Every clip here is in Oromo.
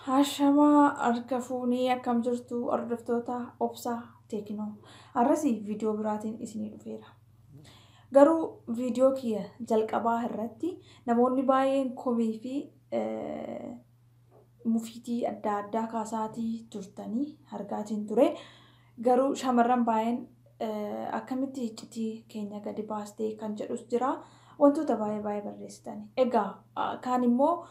Hashamaa harka fuunee akkam jirtu hordoftoota obsaa teeknoo har'asi viidiyoo biraatiin isinii dhufeera. Garuu viidiyoo kiyya jalqabaa irratti namoonni baay'een komii fi mufiitii adda addaa kaasaatii turtanii argaatiin ture. Garuu shamarran baayeen akkamitti hiccitii keenya gadi baastee kan jedhus jira. Wantoota baayee baayee barreessitani. Egaa kaan immoo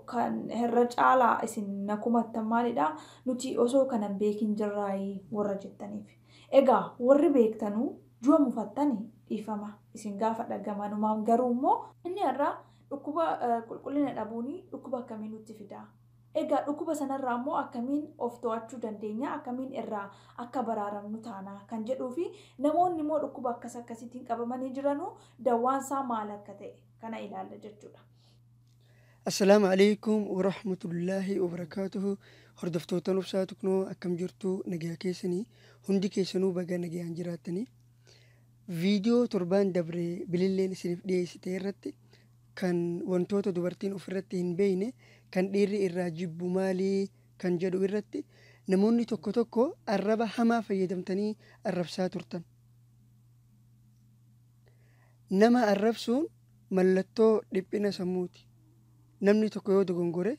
kan herra caalaa isin na kumattan maalidha nuti osoo kana hin beekin jirraayii warra jettaniif. Egaa warri beektanu jua mufattani dhiifama isin gaafadha gamanumaan garuu immoo inni har'a dhukkuba qulqullina dhabuuni dhukkuba akkamii nutti fidaa? Egaa dhukuba sanarraa immoo akkamiin of to'achuu dandeenya, akkamiin irraa akka baraaramnu taana kan jedhuufi namoonni immoo dhukkuba akkas akkasiitiin qabamanii jiranuu dawwaan isaa maal akka ta'e kana ilaalla jechuudha. Assalaamu Aleeykum Warahmatullaahi Wabarakaatuhu Hordoftoottan Obsaa Tuknoo akkam jirtu nagayaa keessanii hundi keessanuu baga nagayaan jiraattanii Viidiyoo torbaan dabre bililleen isinif dhiyeessite irratti kan wantoota dubartiin ofirratti hin beekne kan dhiirri irraa jibbu maali kan jedhu irratti namoonni tokko tokko arraba hamaa fayyadamtanii arrabsaa turtan. Nama arrabsuun mallattoo dhiphina sammuuti. Namni tokko yoo dogongore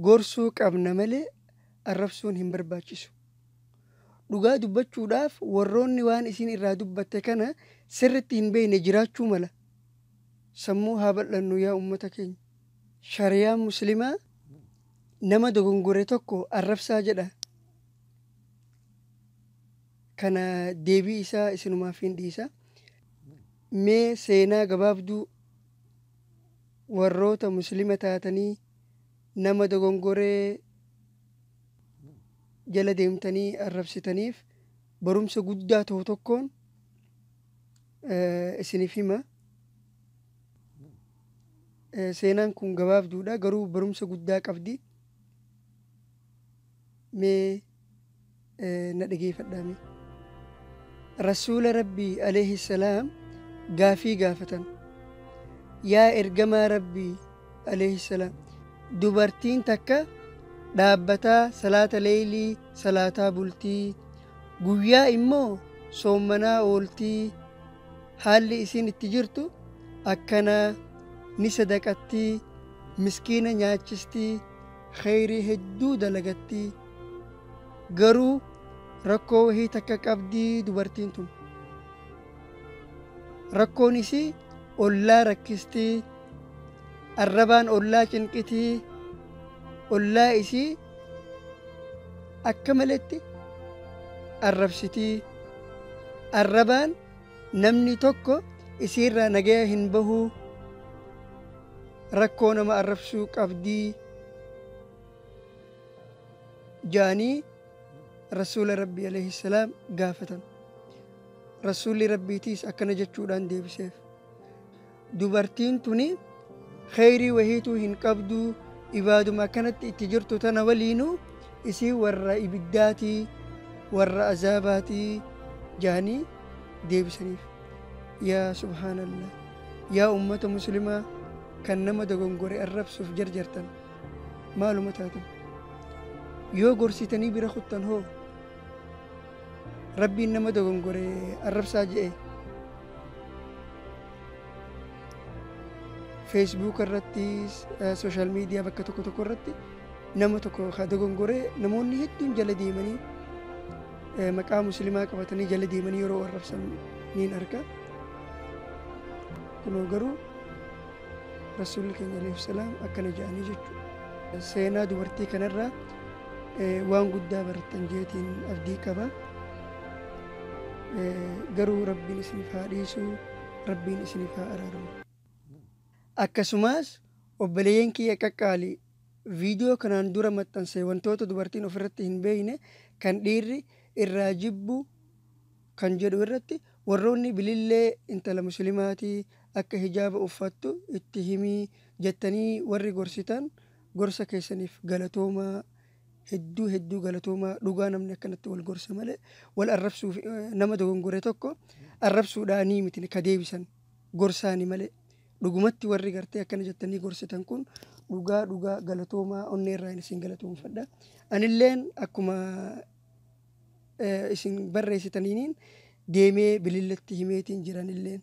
gorsuu qabna malee arrabsuun hin barbaachisu. Dhugaa dubbachuudhaaf warroonni waan isiin irraa dubbatte kana sirritti hin beekne jiraachuu mala. Sammuu haa bal'annu yaa ummata keenya. Shariyaan muslimaa nama dogongore tokko arrabsaa jedha. Kana deebii isaa isinumaafiin dhiisa. Mee seenaa gabaabduu warroota muslima taatanii nama dogongoree jala deemtanii arrabsitaniif barumsa guddaa ta'u tokkoon isinif hima. Seenaan kun gabaabduudha garuu barumsa guddaa qabdi. Mee na dhageefadhaa mee. Rasuula Rabbii alayhi salaam gaafii gaafatan. Yaa ergamaa Rabbii aleyhissalaam dubartiin takka dhaabbataa salaata leeylii salaataa bultii guyyaa immoo soommanaa ooltii haalli isiin itti jirtu akkanaa ni sadaqattii miskiina nyaachistii kheyrii hedduu dalagattii garuu rakkoo wahii takka qabdii dubartiin tun Rakkoon isii ollaa rakkistii, arrabaan ollaa cinqitii, ollaa isii akka maletti arrabsitii. Arrabaan namni tokko isiirraa nagaya hin bahu, rakkoo nama arrabsuu qabdii jaanii Rasuula Rabbii alayhi salaam gaafatan. Rasuulli Rabbiitiis akkana jechuudhaan deebiseef, Dubartiin tuni kheyrii wahiituu hin qabdu, ibaaduma akkanatti itti jirtu tana waliinuu isii warra ibiddaatii, warra azaabaatii jahanii deebisaniif. Yaa subhaanallah! Yaa ummata muslimaa kan nama dogongore arrabsuuf jarjartan maaluma taatan? Yoo gorsitanii bira kuttan hoo? Rabbiin nama dogongore arrabsaa je'e. Facebook irratti, social media bakka tokko tokko irratti nama tokko ka dogongore namoonni hedduun jala deemanii eh, maqaa muslimaa qabatanii jala deemanii yeroo arrabsan niin arga. Kunoo garuu Rasuulli keenya alayhi salaam akkana jedhanii jechuudha. Seenaa dubartii kanarraa waan guddaa barattan jeetiin abdii qaba. Garuu rabbiin isiniif haa dhiisu, rabbiin isiniif haa araaramu. Akkasumas obboleeyyan kiyya qaqqaali viidiyoo kanaan dura maxxanse wantoota dubartiin ofirratti hin beekne kan dhiirri irraa jibbu kan jedhu irratti warroonni bilillee intala muslimaatii akka hijaaba uffattu itti himii jettanii warri gorsitan gorsa keessaniif galatoomaa hedduu hedduu galatoomaa dhugaa namni akkanatti wal gorsa malee wal arrabsuuf nama dogongore tokko arrabsuudhaanii miti ka deebisan gorsaani malee dhugumatti warri gartee akkana jettanii gorsitan kun dhugaa dhugaa galatoomaa onnee irraa isin galatoomfadha anilleen akkuma isin barreessitaniiniin deemee bililletti himeetiin jiranilleen.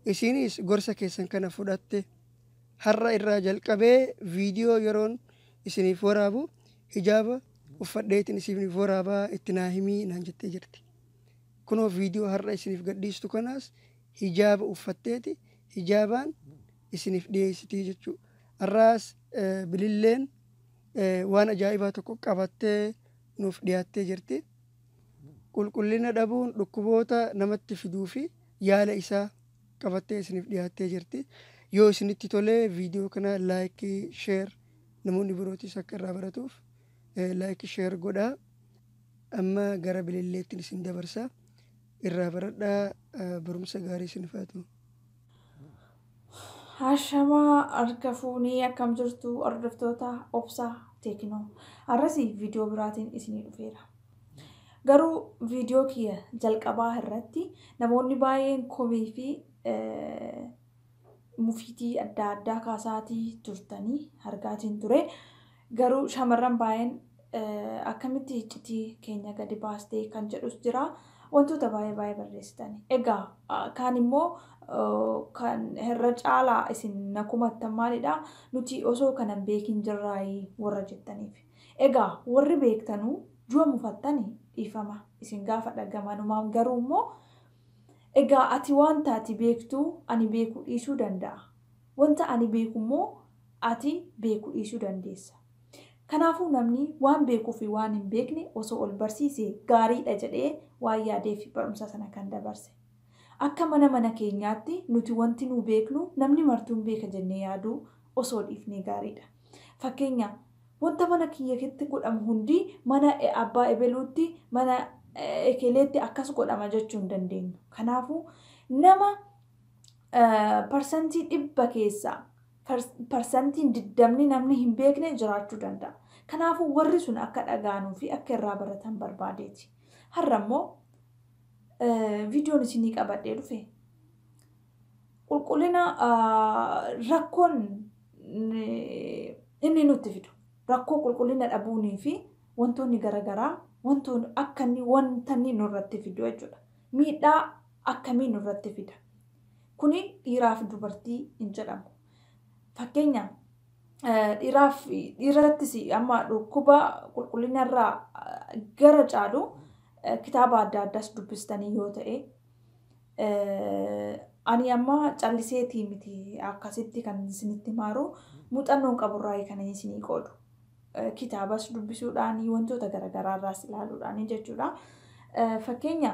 Isiinis gorsa keessan kana fudhatte har'a irraa jalqabee viidiyoo yeroon isiniif waraabu hijaaba uffadheetiin isiniif waraabaa itti naa himii naan jettee jirti. Kunoo viidiyoo har'a isiniif gadhiistu kanaas hijaaba uffatteeti hijaabaan isiniif dhiyeessitii jechuudha. Har'aas bililleen Waan ajaa'ibaa tokko qabattee nuuf dhiyaattee jirti. Qulqullina dhabuun dhukkuboota namatti fiduu fi yaala isaa qabattee isiniif dhiyaattee jirti. Yoo isinitti tole viidiyoo kana laayikii, sheer namoonni birootis akka irraa baratuuf laayikii sheer godhaa. Amma gara bililleettiin isin dabarsa. Irraa baradhaa barumsa gaarii isiniif haa ta'u. Haashamaa harka fuunee akkam jirtu hordoftoota obsaa teeknoo har'asi viidiyoo biraatiin isinii dhufeera. Garuu viidiyoo kiyya jalqabaa irratti namoonni baay'een komii fi mufiitii adda addaa kaasaatii turtanii argaatiin ture. Garuu shamarran baayeen akkamitti hiccitii keenya gadi baastee kan jedhus jira. Wantoota baayee baayee barreessitani. Egaa kaan immoo kan herra caalaa isin na kumattan maalidha nuti osoo kana hin beekin jirraayii warra jettaniif. Egaa warri beektanu jua mufattani dhiifama isin gaafadha gamanumaan garuu immoo egaa ati wanta ati beektu ani beekuu dhiisuu danda'a. Wanta ani beeku immoo ati beeku dhiisuu dandeessa. Kanaafuu namni waan beekuu fi waan hin beekne osoo ol barsiise gaarii dha jedhee waan yaadeef barumsa sana kan dabarse. Akka mana mana keenyaatti nuti wanti nuu beeknu namni martuun beeka jennee yaaduu osoo dhiifnee gaarii dha. Fakkeenya, wanta mana kiyyatti godhamu hundi mana abbaa ebeluutti, mana ekeleetti akkas godhama jechuu hin dandeenyu. Kanaafuu nama parsantii dhibba keessaa parsantiin diddamni namni hin beekne jiraachuu danda'a. Kanaafuu warri sun akka dhagaanuu fi akka irraa baratan barbaadeeti. Har'a immoo viidiyoon isinii qabadhee dhufe. Qulqullina rakkoon inni nutti fidu. Rakkoo qulqullina dhabuunii fi wantoonni garaagaraa wantoonni akka inni wanta inni nurratti fidu jechuudha. Miidhaa akkamii nurratti fida? Kuni dhiiraaf dubartii hin jedhamu. Fakkeenyaaf dhiiraaf dhiirattis amma dhukkuba qulqullinarraa gara caalu kitaaba adda addaas dubbistanii yoo ta'e ani amma calliseetii miti akkasitti kan isinitti maaru muuxannoon qaburraa kan isinii qoodu. kitaabas dubbisuudhaan wantoota garaagaraa irraas ilaaluudhaan jechuudha. Fakkeenya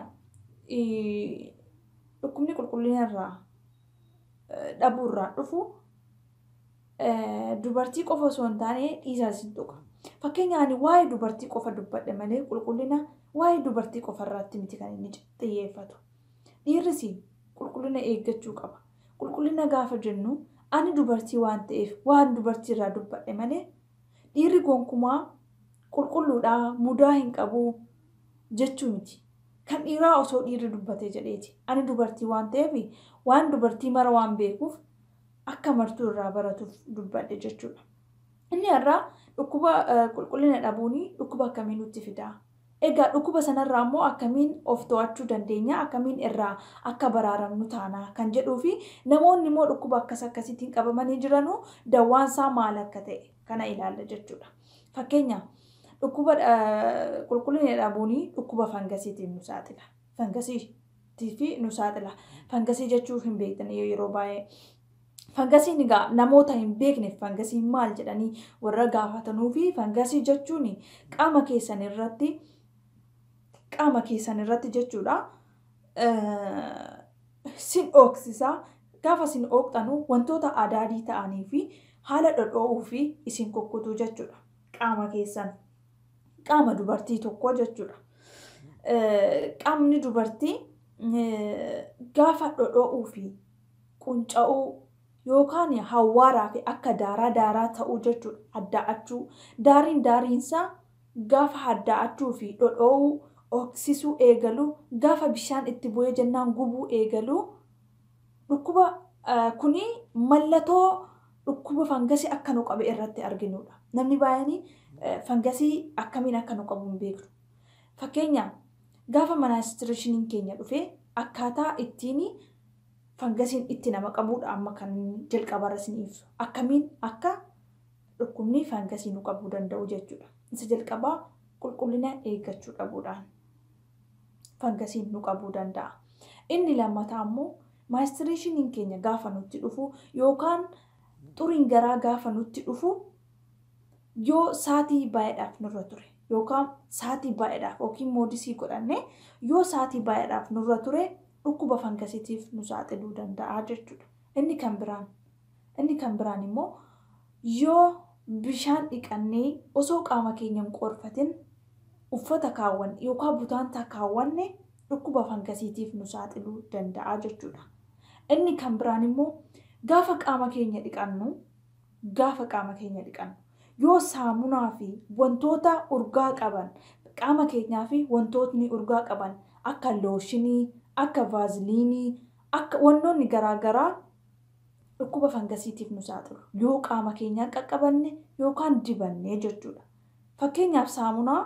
dhukkubni qulqullina irraa dhabuu irraa dhufu dubartii qofa osoo hin taane dhiisaas hin tuqa. Fakkeenya ani waa'ee dubartii qofa dubbadhe malee qulqullina waa'ee dubartii qofa irratti miti kan inni xiyyeeffatu. Dhiirris qulqullina eeggachuu qaba. Qulqullina gaafa jennu ani dubartii waan ta'eef waan dubartii irraa dubbadhe malee dhiirri gonkumaa qulqulluudha, mudaa hin qabu jechuu miti. Kan dhiiraa osoo dhiirri dubbatee jedheeti. Ani dubartii waan ta'eef waan dubartii mara waan beekuuf akka martuu irraa baratuuf dubbadhe jechuudha. Inni har'aa dhukkuba qulqullina dhabuun dhukkuba akkamii nutti fidaa? Egaa dhukuba sanarraa immoo akkamiin of to'achuu dandeenya, akkamiin irraa akka baraaramnu taana kan jedhuufi namoonni immoo dhukkuba akkas akkasiitiin qabamanii jiranu dawwaan isaa maal akka ta'e kana ilaalla jechuudha. Fakkeenya dhukkuba qulqullina dhabuuni dhukkuba fangasiitiin nu saaxila. Fangasiitiif nu saaxila. Fangasii jechuu hin beektanii yeroo baay'ee. Fangasiin egaa namoota hin beekneef fangasiin maal jedhanii warra gaafatanuu fi fangasii jechuun qaama keessan irratti qaama keessan irratti jechuudha sin ooksisa gaafa sin ooktanu wantoota adaadii ta'anii fi haala dhodhoo'uu fi isin kukkutuu jechuudha qaama keessan qaama dubartii tokkoo jechuudha. Qaamni dubartii gaafa dhodhoo'uu fi qunca'uu, yookaan hawwaaraa fi akka daaraa daaraa ta'uu jechuu dha. Haddaa'achuu, daariin daariinsaa gaafa haddaa'achuu fi dhodhoo'uu, ooksisuu, eegalu, gaafa bishaan itti bu'ee jennaan gubuu eegalu, dhukkuba kun mallatoo dhukkuba fangasii akka nu qabe irratti arginu dha. Namni baay'een fangasii akkamiin akka nu qabu hin beeknu. Fakkeenyaaf, gaafa manaastireeshiniin keenya dhufe akkaataa ittiin Fangasiin itti nama qabuudha amma kan jalqabarra isinii ibsu. Akkamiin akka dhukkubni fangasii nu qabuu danda'u jechuudha. Isa jalqabaa qulqullina eeggachuu dhabuudhaan fangasiin nu qabuu danda'a. Inni lammataa immoo maayistiriishiniin keenya gaafa nutti dhufu yookaan xuriin garaa gaafa nutti dhufu yoo saatii baay'eedhaaf nurra ture yookaan saatii baay'eedhaaf yookiin moodisii godhanne yoo saatii baay'eedhaaf nurra ture dhukkuba fangasitiif nu saaxiluu danda'a jechuudha. Inni kan biraan inni kan biraan immoo yoo bishaan dhiqannee osoo qaama keenya hin qoorfatin uffata kaawwanne yookaan butaantaa kaawwanne dhukkuba fangasitiif nu saaxiluu danda'a jechuudha. Inni kan biraan immoo gaafa qaama keenya dhiqannu Gaafa qaama keenya dhiqannu. Yoo saamunaa fi wantoota urgaa qaban qaama keenyaa fi wantootni urgaa qaban akka looshinii, akka vaaziliinii, akka wannoonni garaa garaa dhukkuba fangasiitiif nu saaxilu yoo qaama keenyaan qaqqabanne yookaan dibanne jechuu dha. Fakkeenyaaf saamunaa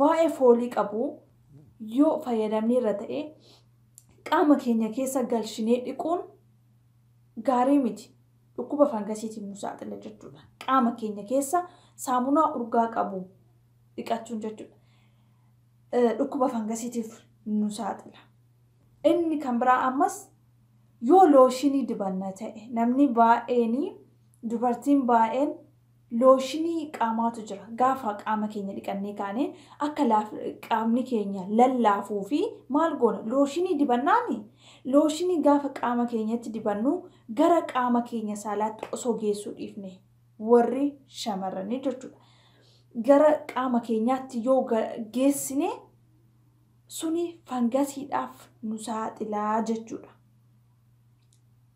baay'ee foolii qabu yoo fayyadamnee irra ta'e qaama keenya keessa galchinee dhiquun gaarii miti. dhukkuba fangasiitiif nu saaxila jechuudha. Qaama keenya keessa saamunaa urgaa qabu dhiqachuun jechuudha. Dhukkuba fangasiitiif nu saaxila. Inni kan biraa ammas yoo looshinii dibanna ta'e namni baay'een dubartiin baay'een Looshinii qaamaatu jira. Gaafa qaama keenya dhiqannee kaane akka laaf qaamni keenya lallaafuu fi maal goona? Looshinii dibannaani? Looshinii gaafa qaama keenyatti dibannu gara qaama keenya saalaatti osoo geessuu dhiifne warri shamarranii jechuudha. Gara qaama keenyaatti yoo geessine suni fangasiidhaaf nu saaxilaa jechuudha.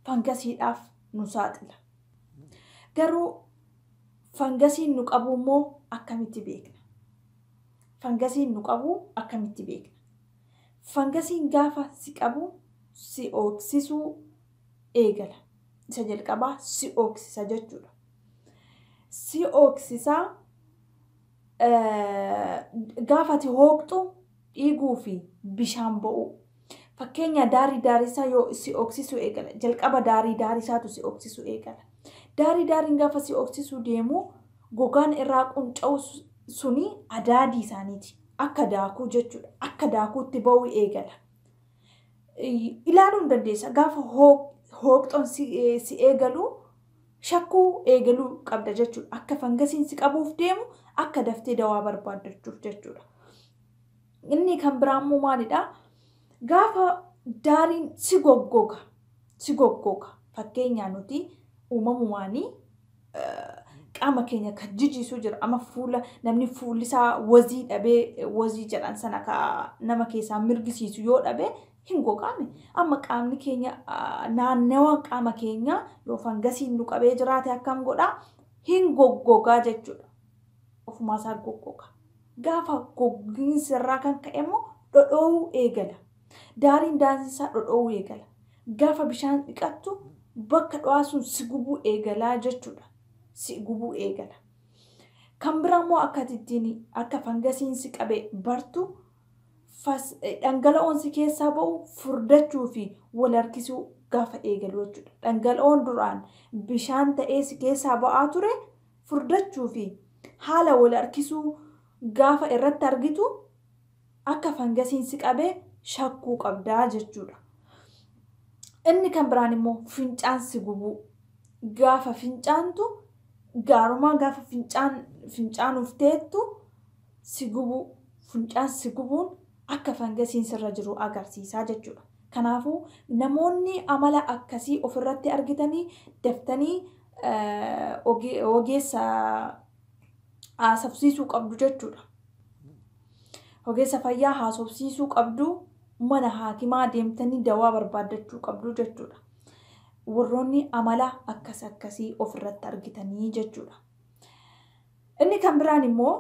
Fangasiidhaaf nu saaxila. Garuu fangasiin nu qabuu immoo akkamitti beekna? Fangasiin nu qabuu akkamitti beekna? Fangasiin gaafa si qabu si ooksisuu eegala. Isa jalqabaa si ooksisa jechuudha. Si ooksisa gaafa ati hooqxu dhiiguu fi bishaan bo'uu. Fakkeenya daarii daarisaa yoo si oksisu eegala. Jalqaba daarii daarisaatu si oksisu eegala. Daarii daariin gaafa si oksisuu deemu gogaan irraa qunca'u suni adaadii isaaniiti. Akka daakuu jechuudha. Akka daakuutti ba'uu eegala. Ilaaluu hin dandeessa. Gaafa hooqxoon si eegalu shakkuu eegaluu qabda jechuudha. Akka fangasiin si qabuuf deemu akka daftee dawaa barbaaddachuuf jechuudha. Inni kan biraa immoo maalidha? Gaafa daariin si goggoga, si goggoga. Fakkeenyaa nuti uumamumaanii qaama keenya kan jijiisuu jira. Amma fuula namni fuulli isaa wazii dhabee wazii jedhan sana ka nama keessaa mirgisiisu yoo dhabe hin gogaane. Amma qaamni keenya naannawa qaama keenyaa yoo fangasiin nu qabee jiraate akkam godha? Hin goggogaa jechuudha. Ofumaa isaa goggoga. Gaafa goggiinsi irraa kan ka'e immoo dhodhoo'uu eegala. Daariin daansii isaa dhodhoo'uu eegala. Gaafa bishaan dhiqattu bakka dho'aa sun si gubuu eegalaa jechuudha. Si gubuu eegala. Kan biraa immoo akka ittiin akka fangasiin si qabe bartu fas, dhangala'oon si keessaa ba'u furdachuu fi wal harkisuu gaafa eegalu jechuudha. Dhangala'oon duraan bishaan ta'ee si keessaa ba'aa ture furdachuu fi haala wal harkisuu gaafa irratti argitu akka fangasiin si qabee shakkuu qabdaa jechuudha. Inni kan biraan immoo fincaan si gubuu. Gaafa fincaantu gaarumaa gaafa fincaan fincaanuuf teettu si gubuu, funcaan si gubuun akka fangasiin sirra jiru agarsiisa jechuudha. Kanaafuu namoonni amala akkasii ofirratti argitanii daftanii ogeessa haasofsiisuu qabdu jechuudha. Ogeessa fayyaa haasofsiisuu qabdu, mana haakimaa deemtanii dawaa barbaaddachuu qabdu jechuudha. Warroonni amala akkas akkasii ofirratti argitanii jechuudha. Inni kan biraan immoo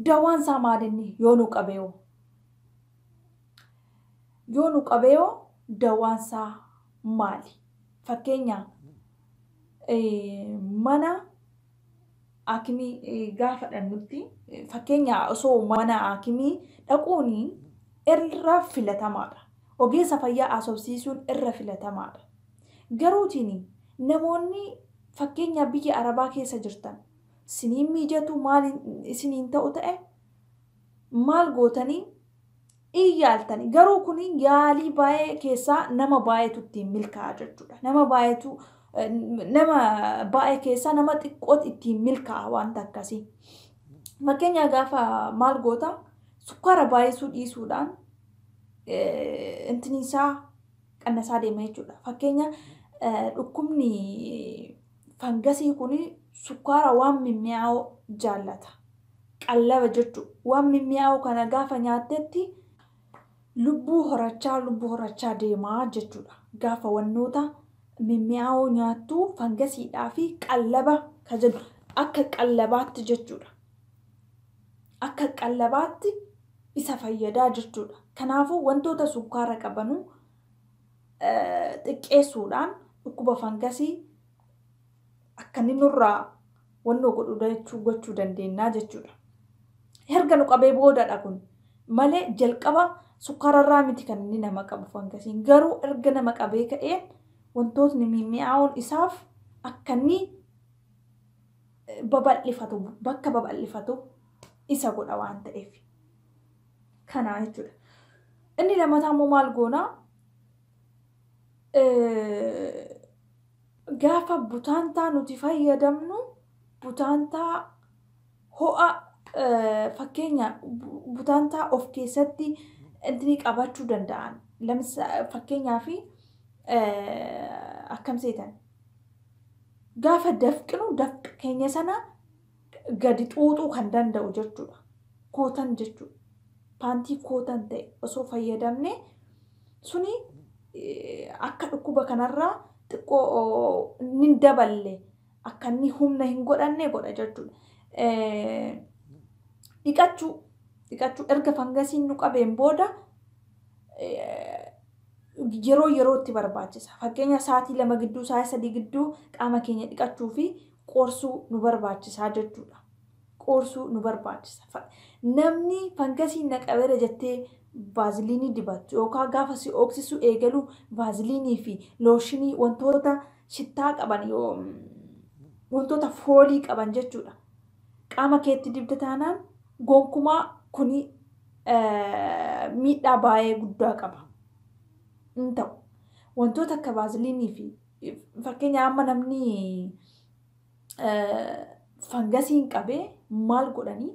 dawaan isaa maalinni yoo nu qabeeyo yoo nu qabeeyo dawaan isaa maali? Fakkeenya mana aakimii gaafa dhannutti fakkeenya osoo mana aakimii dhaquun irra filatamaadha. Ogeessa fayyaa asobsiisuun irra filatamaadha. Garuutiin namoonni fakkeenyaa biyya arabaa keessa jirtan siniin miijatu maal isiniin ta'u ta'e maal gootanii in yaaltani garuu kuni yaalii baay'ee keessaa nama baay'eetu ittiin milkaa'a jechuudha. Nama baay'eetu nama baay'ee keessaa nama xiqqooti ittiin milkaa'a wanta akkasii. Fakkeenyaa gaafa maal goota sukkaara baay'isuu dhiisuudhaan intinisaa qannasaa deema jechuudha. Fakkeenya dhukkubni Fangasii kun sukkaara waan mimmi'aawoo jaallata. Qallaba jechu. Waan mimmi'aawoo kana gaafa nyaattetti lubbuu horachaa lubbuu horachaa deema jechuudha. Gaafa wannoota mimmi'aawoo nyaattu fangasiidhaa fi qallaba ka jennu akka qallabaatti jechuudha. Akka qallabaatti isa fayyadaa jechuudha. Kanaafuu wantoota sukkaara qabanu xiqqeessuudhaan dhukkuba fangasii akka inni nurraa wannoo godhu dachuu gochuu dandeennaa jechuudha. Herga nu qabee boodadha kun malee jalqaba sukkaararraa miti kan inni nama qabu fangasiin garuu erga nama qabee ka'ee wantootni mi'aawoon isaaf akka inni babal'ifatu bakka babal'ifatu isa godha waan ta'eef. kanaa jechuudha. Inni lammataa immoo maal goona? Gaafa butaantaa nuti fayyadamnu butaantaa ho'a fakkeenya butaantaa of keessatti intini qabachuu danda'an. Fakkeenyaaf akkam seetan? Gaafa dafqinu dafqa keenya sana gadi xuuxuu kan danda'u jechuudha. Kootan jechuudha. Paantii kootan ta'e osoo fayyadamne suni akka dhukkuba kanarraa xiqqoo inni daballe akka inni humna hin godhanne godha jechuudha. Dhiqachuu dhiqachuu erga fangasiin nu qabeen booda yeroo yerootti barbaachisa. Fakkeenya sa'aatii lama gidduu sa'aatii sadii gidduu qaama keenya dhiqachuu fi qoorsuu nu barbaachisaa jechuudha. Qoorsuu nu barbaachisa. Fa- Namni fangasiin na qabeera jettee vaaziliinii dibattu yookaan gaafa si ooksisuu eegalu vaaziliinii fi looshinii wantoota shittaa qaban yoo wantoota foolii qaban jechuudha. Qaama keetti dibda taanaan gonkumaa kuni eh, miidhaa baay'ee guddaa qaba. Hin ta'u. Wantoota akka vaaziliinii fi Fakkeenya amma namni fangasiin qabee maal godhanii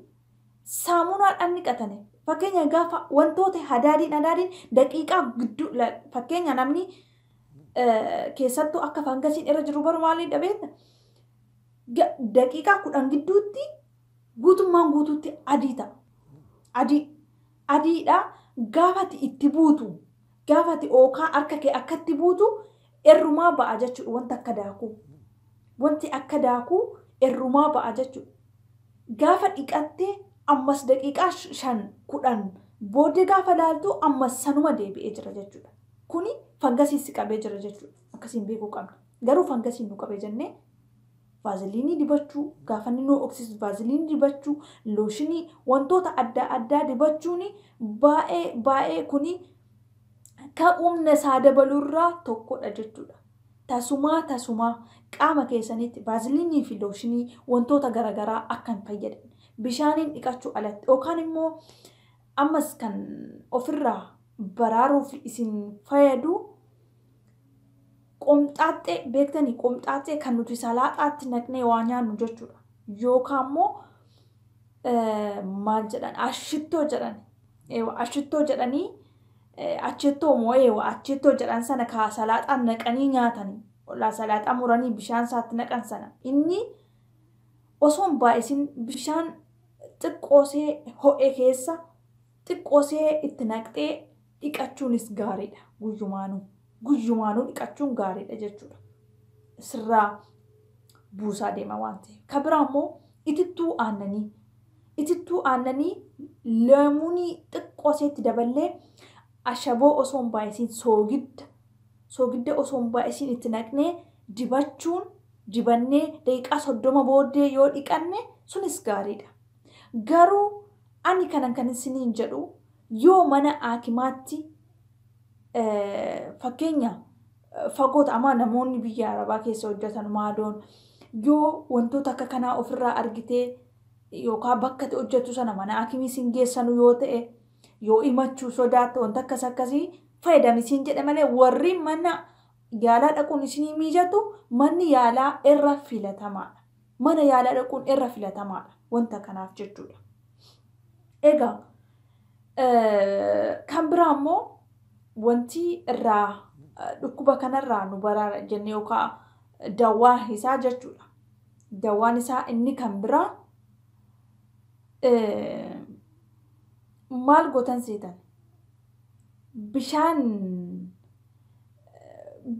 saamunaadhaan dhiqatanii fakkeenya gaafa wantoota hadaadiin hadaadiin daqiiqaa gidduu fakkeenya namni keessattuu akka fangasiin irra jiru baru maaliin dhabeetta daqiiqaa kudhan gidduutti guutummaan guutuutti adii ta'a. Adii adiidha gaafati itti buutu Gaafa ati ookaa harka kee akkatti buutu errumaa ba'a jechuudha wanti akka daakuu. Wanti akka daakuu errumaa ba'a jechuudha. Gaafa dhiqattee ammas daqiiqaa shan kudhan booddee gaafa laaltu ammas sanuma deebi'ee jira jechuudha. Kuni fangasiin si qabee jira jechuudha. Akkasiin beekuu qabna. Garuu fangasiin nu qabe jennee Vaaziliinii dibachuu, gaafa inni nu ho'oksisu vaaziliinii dibachuu, looshinii, wantoota adda addaa dibachuun baay'ee baay'ee kuni ka humna isaa dabalurraa tokkodha jechuudha. Tasumaa tasumaa qaama keessanitti vaaziliinii fi looshinii wantoota garaagaraa akka hin fayyadne bishaaniin dhiqachuu alatti yookaan immoo ammas kan ofirraa baraaruuf isin fayyadu Qomxaaxxee beektanii? Qomxaaxxee kan nuti salaaxaatti naqnee waa nyaannu jechuudha. Yookaan immoo maal jedhan ashittoo jedhan. Eewa ashittoo jedhanii achettoo moo eewa achettoo jedhan sana kaa salaaxaan naqanii nyaatanii. Olaa salaaxaa muranii bishaan isaatti naqan sana. Inni osoo hin baay'isin bishaan xiqqoosee ho'e keessa xiqqoosee itti naqxee dhiqachuunis gaariidha guyyumaanuu. Guyyumaanuu dhiqachuun gaariidha jechuudha. Sirraa buusaa deema waan ta'eef. Ka biraa immoo itittuu aannanii. Itittuu aannanii leemunii xiqqoo seetti daballee ashaboo osoo hin baay'isiin soogidda soogidda osoo hin baay'isiin itti naqnee dibachuun dibannee daqiiqaa soddoma booddee yoo dhiqanne sunis gaariidha. Garuu ani kanan kan isiniin jedhu yoo mana aakimaatti fakkeenya fagoota amaa namoonni biyya arabaa keessa hojjetan maadoon yoo wantoota akka kanaa ofirraa argitee yookaan bakka itti hojjetu sana mana aakimii siin geessanu yoo ta'e yoo himachuu sodaatte wanta akkas akkasii fayyadami siin jedhe malee warri mana yaalaa dhaquun isinii miijatu manni yaalaa irra filatamaadha. mana yaalaa dhaquun irra filatamaadha wanta kanaaf jechuudha. Egaa kan biraa immoo wanti irraa dhukkuba kanarraa nu baraara jennee yookaan dawaa isaa jechuudha. Dawaan isaa inni kan biraa maal gootan seetan bishaan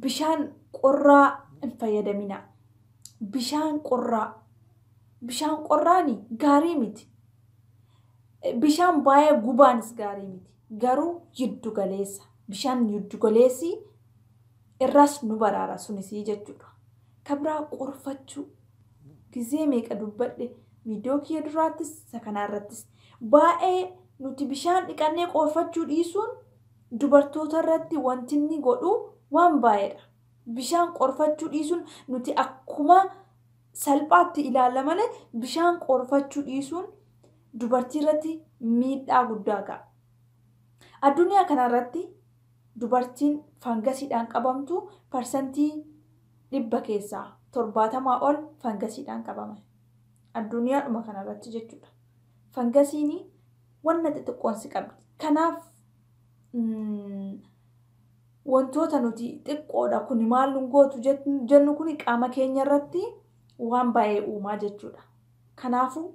bishaan qorraa hin fayyadaminaa. bishaan qorraa bishaan qorraani gaarii miti bishaan baay'ee gubaanis gaarii miti garuu jiddu galeessa bishaan jiddu galeessii irraas nu baraara sunisii jechuudha ka biraa qorfachuu gizee meeqa dubbadhe viidiyoo kiyya duraattis isa kanaa irrattis baay'ee nuti bishaan dhiqannee qorfachuu dhiisuun dubartoota irratti wanti inni godhu waan baay'eedha Bishaan qorfachuu dhiisuun nuti akkuma salphaatti ilaalla malee bishaan qorfachuu dhiisuun dubartii irratti miidhaa guddaa ga'a. Addunyaa kana irratti dubartiin fangasiidhaan qabamtu parsantii dhibba keessaa torbaatamaa ol fangasiidhaan qabama. Addunyaadhuma kana irratti jechuudha. Fangasiin wanna xixiqqoon si qabdi. Kanaaf Wantoota nuti xiqqoodha kuni maal nun gootu jennu kuni qaama keenya irratti waan baay'ee uumaa jechuudha. Kanaafuu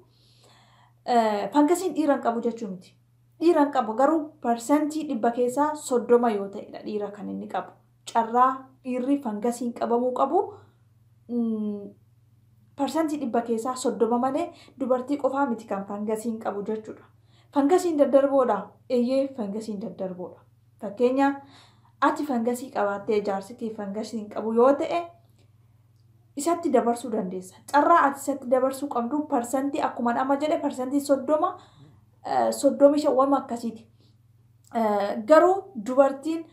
fangasiin dhiira hin qabu jechuu miti. Dhiira hin qabu garuu parsantii dhibba keessaa soddoma yoo ta'edha dhiira kan inni qabu. Carraa dhiirri fangasiin qabamuu qabu parsantii dhibba keessaa soddoma malee dubartii qofaa miti kan fangasiin qabu jechuudha. Fangasiin daddarboodha? Eeyyee fangasiin daddarboodha. Fakkeenyaaf, ati fangasii qabaattee jaarsi kee fangasii hin qabu yoo ta'e isatti dabarsuu dandeessa. Carraa ati isatti dabarsuu qabdu parsantii akkuma amma jedhe parsantii soddoma soddomi shan wama akkasiiti. Garuu dubartiin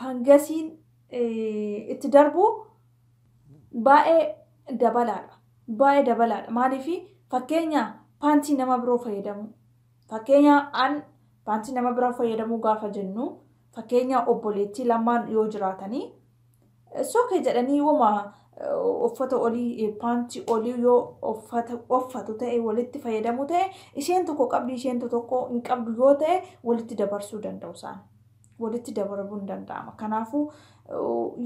fangasiin itti darbu baay'ee dabalaadha. Baay'ee dabalaadha. Maaliif fakkeenya paantii nama biroo fayyadamuu. Fakkeenya an paantii nama biraa fayyadamuu gaafa jennu fakkeenya obboleettii lamaan yoo jiraatanii it's okay jedhanii woma uffata olii paantii olii yoo uffata uffatu ta'e walitti fayyadamu ta'e isheen tokko qabdi isheen tokko hin qabdu yoo ta'e walitti dabarsuu danda'u isaan walitti dabarabuun danda'ama kanaafuu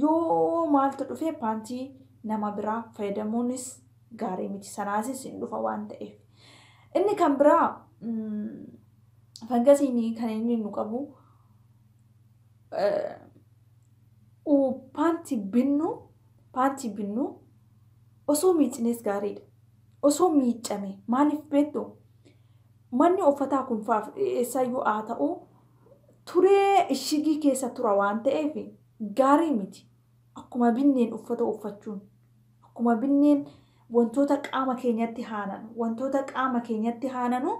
yoo maaltu dhufee paantii nama biraa fayyadamuunis gaarii miti. Sanaasis hin dhufa waan ta'eef. Inni kan biraa fangasiin kan inni nu qabu paantii binnu paantii binnu osoo miicines gaariidha. Osoo miicame maaliif beektu manni uffataa kun faaf eessaayyuu haa ta'u turee ishigii keessa tura waan ta'eef gaarii miti. Akkuma binneen uffata uffachuun, akkuma binneen wantoota qaama keenyatti haananu, wantoota qaama keenyatti haananu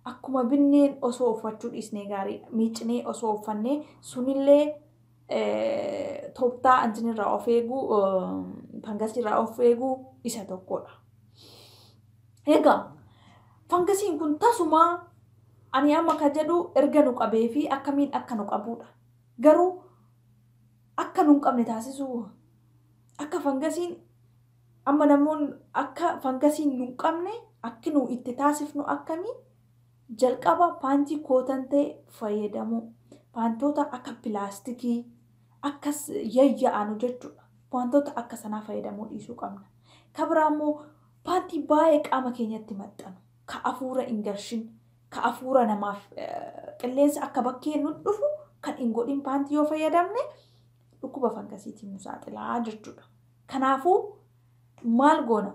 akkuma binneen osoo uffachuu dhiisnee gaariidha. Miicnee osoo uffannee sunillee tooftaa antin irraa of eeguu, fangasii irraa of eeguu isa tokkodha. Egaa fangasiin kun tasumaa ani amma ka jedhu erga nu qabee fi akkamiin akka nu qabuudha. Garuu akka nun qabne taasisuu akka fangasiin amma namoon akka fangasiin nun qabne akki nu itti taasifnu akkamii jalqaba paantii kootan ta'e fayyadamuu paantoota akka pilaastikii akka yayya'anu jechuudha wantoota akka sanaa fayyadamuu dhiisuu qabna kabiraa immoo paantii baay'ee qaama keenyatti maxxanu ka afuura hin galchin ka afuura namaaf qilleensa akka bakkee nut dhufu kan hin godhin paantii yoo fayyadamne dhukkuba fangasiitiin nu saaxilaa jechuudha. Kanaafuu maal goona?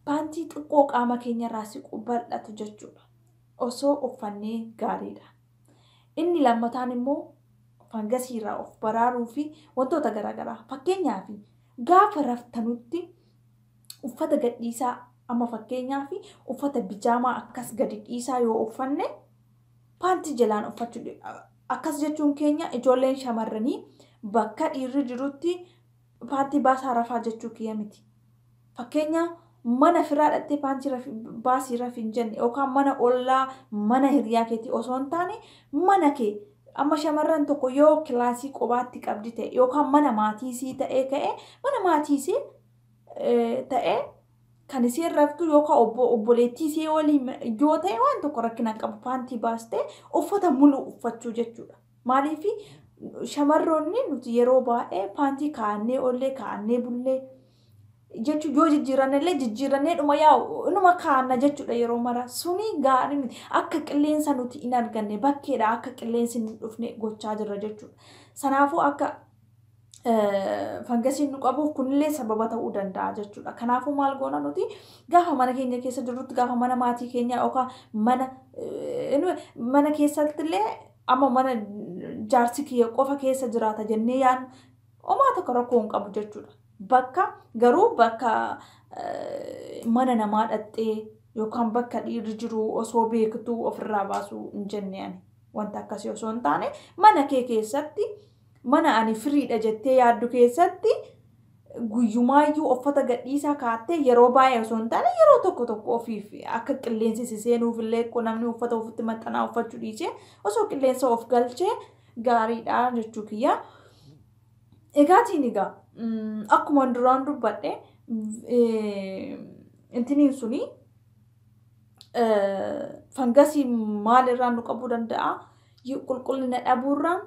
Paantii xiqqoo qaama keenyarraa siqu bal'atu jechuudha. Osoo uffannee gaariidha. Inni lammataan immoo fangasiirraa of baraaruu fi wantoota garaagaraa fakkeenyaaf gaafa raftanutti uffata gadhiisaa amma fakkeenyaaf uffata bijaamaa akkas gadi dhiisaa yoo uffanne paantii jalaan uffachuu di- a- akkas jechuun keenya ijoolleen shamarranii bakka dhiirri jirutti paantii baasaa rafaa jechuu kiyya miti. Fakkeenya mana firaa dhattee paantii rafi- baasii rafi hin jenne yookaan mana ollaa mana hiriyaa keetii osoo hin taane mana kee amma shamarran tokko yoo kilaasii qobaatti qabdi ta'e yookaan mana maatii isii ta'ee ka'e mana maatii isii ta'e kan isiin raftu yookaan obbo obboleettii isii waliin yoo ta'e waan tokko rakkina hin qabu paantii baastee uffata muluu uffachuu jechuudha. Maaliif shamarroonni nuti yeroo baay'ee paantii kaa'annee oollee kaa'annee bullee jechuun yoo jijjiiranne illee jijjiirannee dhuma yaa'u inuma kaa'anna jechuudha yeroo mara suni gaarii miti akka qilleensa nuti hin arganne bakkeedha akka qilleensi hin dhufne gochaa jirra jechuudha. Sanaafuu akka fangasiin nu qabuuf kunillee sababa ta'uu danda'a jechuudha. Kanaafuu maal goona nuti gaafa mana keenya keessa jirrutti gaafa mana maatii keenyaa yookaan mana mana keessatti illee amma mana jaarsi kiyya qofa keessa jiraata jennee yaadnu homaa tokko rakkoo hin qabu jechuudha. Bakka garuu bakka mana namaa dhaxxee yookaan bakka dhiirri jiru osoo beektuu ofirraa baasuu hin jenne ani. Wanta akkasii osoo hin taane mana kee keessatti Mana ani firiidha jettee yaaddu keessatti guyyumaayyuu uffata gadhiisaa kaattee yeroo baay'ee osoo hin taane yeroo tokko tokko ofiif akka qilleensi si seenuuf illee ko namni uffata ofitti maxxanaa uffachuu dhiisee osoo qilleensa of galchee gaariidha jechuu kiyya. Egaatiin egaa akkuma duraan dubbadhe intiniin suni fangasii maal irraa nu qabuu danda'a? Qulqullina dhabuurraan,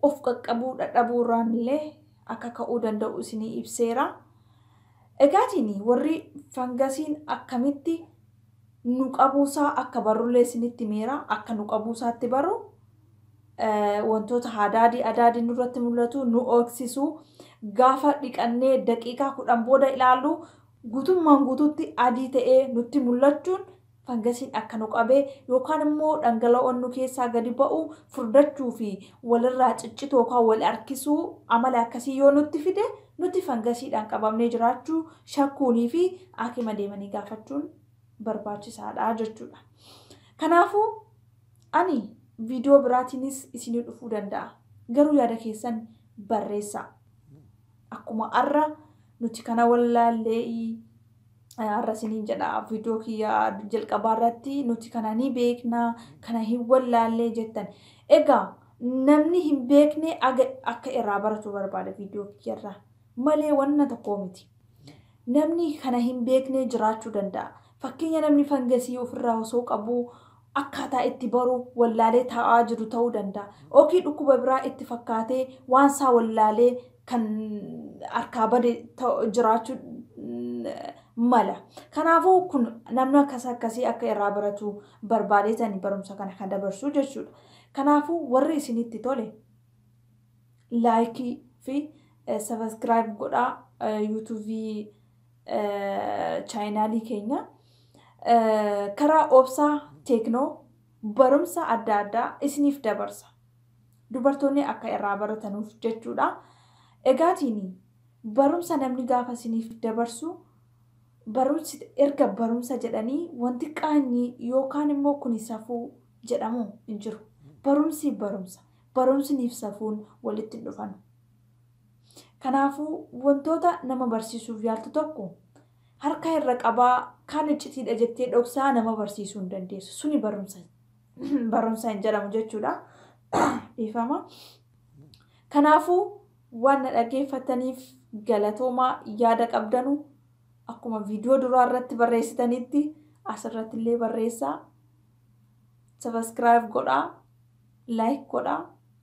of qaqqabuu dhadhabuurraan illee akka ka'uu danda'u isinii ibseera. Egaatiin warri fangasiin akkamitti nu qabuusaa akka barrullee isinitti himeera. Akka nu qabuusaatti baru wantoota hadaadii adaadii nurratti mul'atu nu ooksisu gaafa dhiqannee daqiiqaa kudhan booda ilaallu guutummaan guutuutti adii ta'ee nutti mul'achuun fangasiin akka nu qabe yookaan immoo dhangala'oon nu keessaa gadi ba'u furdachuu fi walirraa ciccituu yookaan wal harkisuu amala akkasii yoo nutti fide nuti fangasiidhaan qabamnee jiraachuu shakkuunii fi haakima deemanii gaafachuun barbaachisaadha jechuudha. Kanaafuu ani viidiyoo biraatiinis isinii dhufuu danda'a. Garuu yaada keessan barreessaa. Akkuma har'a nuti kana wallaallee Har'a isiniin jedha viidiyoo kiyya jalqabaa irratti nuti kana ni beekna kana hin wallaallee jettan. Egaa namni hin beekne aga akka irraa baratu barbaada viidiyoo kiyya irraa malee wanna tokkoo miti. Namni kana hin beekne jiraachuu danda'a. Fakkeenya namni fangasii ofirraa osoo qabuu akkaataa itti baru wallaalee taa'aa jiru ta'uu danda'a. Ookii dhukkuba biraa itti fakkaatee waan isaa wallaalee kan harkaa bade jiraachuu mala. Kanaafuu kun namni akkas akkasii akka irraa baratu barbaadeetani barumsa kana kan dabarsuu jechuudha. Kanaafuu warri isinitti tole laayikii fi sabaskiraayib godhaa yuutuubii chaayinaalii keenya karaa obsaa teeknoo barumsa adda addaa isiniif dabarsa. Dubartoonni akka irraa baratanuuf jechuudha. Egaatiin barumsa namni gaafa isiniif dabarsu barumsi erga barumsa jedhanii wanti qaanyii yookaan immoo kuni safuu jedhamu hin jiru. Barumsi barumsa. Barumsniif safuun walitti hin dhufanu. Kanaafuu, wantoota nama barsiisuuf yaaltu tokko harka irra qabaa, kaan iccitiidha jettee dhoksaa nama barsiisuu hin dandeessu. Suni barumsa barumsa hin jedhamu jechuudha. Dhiifama. Kanaafuu, waan na dhaggeeffattaniif galatoomaa yaada qabdanu akkuma viidiyoo duraa irratti barreessitanitti asirratti illee barreessaa. Sabaskiraayib godhaa, laayik godhaa.